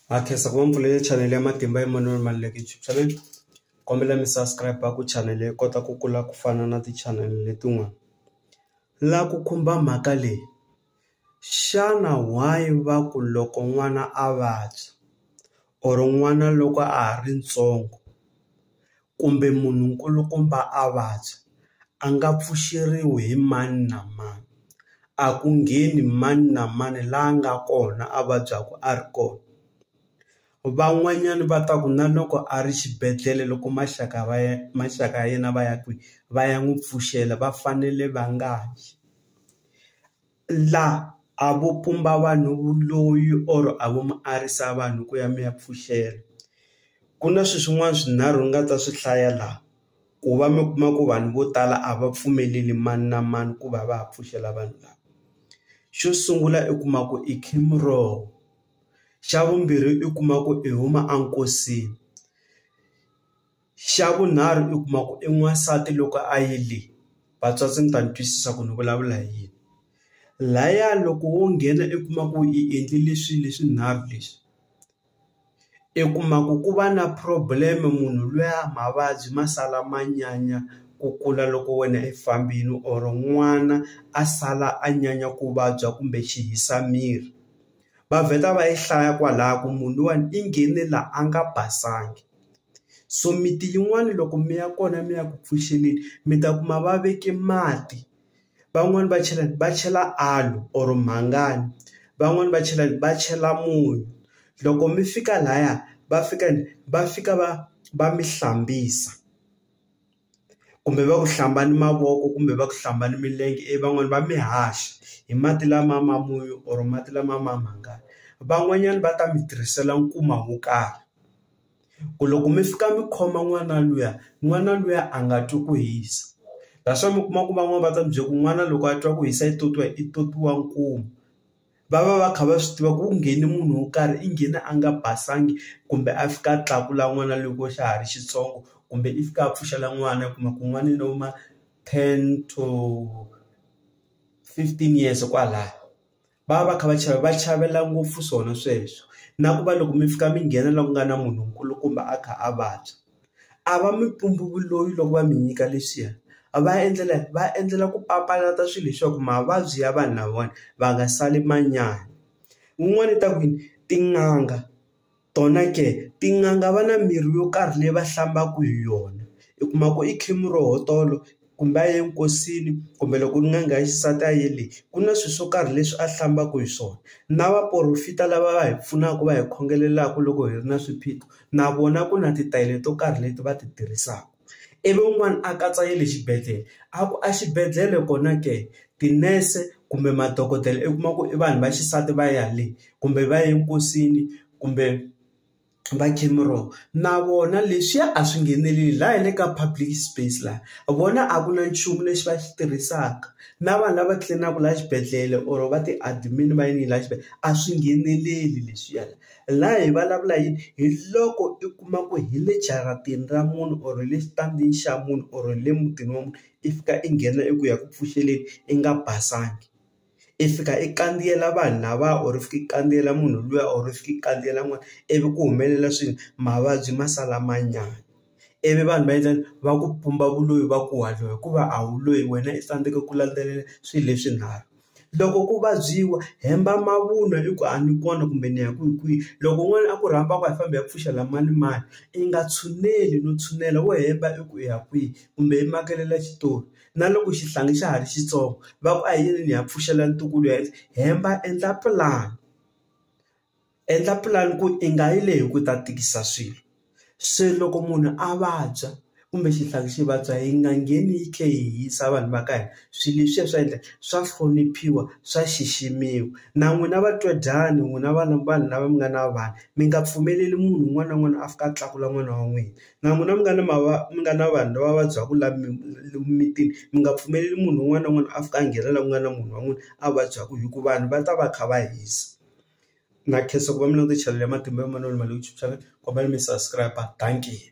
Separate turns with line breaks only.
Ha khensa ku va mi pfulele chanele ya matimba Emmanuel Maluleke YouTube channel kombela mi subscribe ku chanele yi kota ku kula ku fana na ti chanele letin'wana. La ku khumba mhaka leyi xana why va ku loko n'wana a vabya or n'wana loko a ha ri ntsongo. kumbe munhu nkulukumba a vabya, a nga pfuxeriwi hi mani na mani. A ku ngheni mani na mani la nga kona a vabyaku a ri kona. Van'wanyani va ta ku na loko a ri xibedhlele loko maxaka va ya maxaka ya yena va ya kwihi va ya n'wi pfuxela va fanele va nga yi. La a vo pumba vanhu vuloyi or a vo mi arisa vanhu ku ya mi ya pfuxela ku na swi swin'wana swinharhu ni nga ta swi hlaya la ku va mi kuma ku vanhu vo tala a va pfumeleli mani na mani ku va va ha pfuxela vanhu lava xo sungula i kuma ku i xa vumbirhi i kuma ku i huma enkosini. Xa vunharhu i kuma ku i n'wansati loko a yi le vatswatsi mi ta ni twisisa ku ni vulavula hi yini laya loko wo nghena i kuma ku i endlile swilo leswinharhu leswi i kuma ku ku va na problem munhu luya mavabyi ma sala ma nyanya ku kula loko wena i fambini or n'wana a sala a nyanya ku vabya kumbe xi hisa miri va vheta va yi hlaya kwalaya ku munhu luwani i nghene la a nga basanga so miti yin'wani loko mi ya kona mi ya ku pfuxeleni mi ta kuma va veke mati van'wani va chela va chela aloe or mhangani van'wani va chela va chela munyu loko mi fika laya va fika va fika va va mi hlambisa. kumbe va ku hlamba ni mavoko kumbe va ku hlamba ni milenge ivi van'wani va mi haxa hi mati lama ma munyu or mati lama ma mhangani van'wanyani va ta mi tirhisela nkuma wo karhi ku loko mi fika mi khoma n'wana luya n'wana luya a nga twi ku hisa that's why mi kuma ku van'wani va ta mi byela ku n'wana loko a twa ku hisa i totiwa i totiwa nkuma. va va va kha va swi tiva ku ku nghene munhu wo karhi i nghene a nga basanga kumbe a fika a tlakula n'wana loko xa ha ri xitsongo kumbe i fika a pfuxela n'wana u kuma ku n'wana i lo ma ten to fifteen years kwalaya va va va kha va chava va chavela ngopfu swona sweswo na ku va loko mi fika mi nghena loku nga na munhu nkulukumba a kha a vabya. a va mi pumbhuvuloyi loko va mi nyika leswiya a va endlela va endlela ku papalata swilo leswaku mavabyi ya vanhu lavawani va nga sali manyana, wun'wana i ta ku yini tin'anga tona ke tin'anga va na mirhi yo karhi leyi va hlambaka hi yona i kuma ku i khemi roho tolo. kumbe a ye nkosini kumbe loko n'anga ya xisati a yele ku na swilo swo karhi leswi a hlambaka hi swona na vaporofeta lava va hi pfunaka va hi khongelelaku loko hi ri na swiphiqo na vona ku na titayele to karhi leti va ti tirhisaka, ivi un'wana a katsa ya le xibedhlele a ku a xibedhlele kona ke tinese kumbe madokodela i kuma ku i vanhu va xisati va ya le kumbe va ye nkosini kumbe. va Jim Rohr na vona leswiya a swi ngheneleli la hi le ka public space la vona a ku na nchumu lexi va xi tirhisaka na vanhu lava tlilinaka la xibedhlele or va ti admin va yini la xibedhlele a swi ngheneleli leswiya la la hi vulavula hi hi loko i kuma ku hi le jaratini ra munhu or hi le xitandini xa munhu or hi le mutini wa munhu i fika i nghena i ku ya ku pfuxeleni i nga basanga. i fika i kandziyela vanhu lava or i fika i kandziyela munhu luya or i fika i kandziyela n'wana ivi ku humelela swilo mavabyi ma sala ma nyanya ivi vanhu va endla yini va ku pumba vuloyi va ku wa dyoha hikuva a wu loyi wena i fanekele ku landzelela swilo leswinharhu loko ku vabyiwa hemba mavunwa i ku a ni kona kumbe ni ya ku hi kwihi loko n'wana a ku rhamba ku a hi fambi hi ya pfuxa la mani mani i nga tshuneli no tshunela wo hemba i ku u ya kwihi kumbe i makelela xitori. na loko xihlangi xa ha ri xitsongo va ku a hi yini ni ya pfuxela ntukulu ya hemba endla pulani endla pulani ku i nga yi leyi hi ku ta tikisa swilo se loko munhu a vabya kumbe xihlangi xi vabya hi nga ngheni yi tlhe yi hisa vanhu va ka hina swilo leswiya swa endla swa hloniphiwa swa xiximiwa na n'wina va twa dyani n'wina vanhu vanhu lava mi nga na vana mi nga pfumeleli munhu un'wana na un'wana a fika a tlakula n'wana wa n'wina. na n'wina mi nga ni mi nga na vanhu lava vabyaka la lomu mimitini mi nga pfumeleli munhu un'wana na un'wana a fika a nghena la ku nga na munhu wa n'wina a vabyaka hi ku vanhu va ta va kha va hisa. Na khensa ku va mi langute chanel ya Matimba ya Manana Maluleke YouTube channel kombela mi subscribe dankie.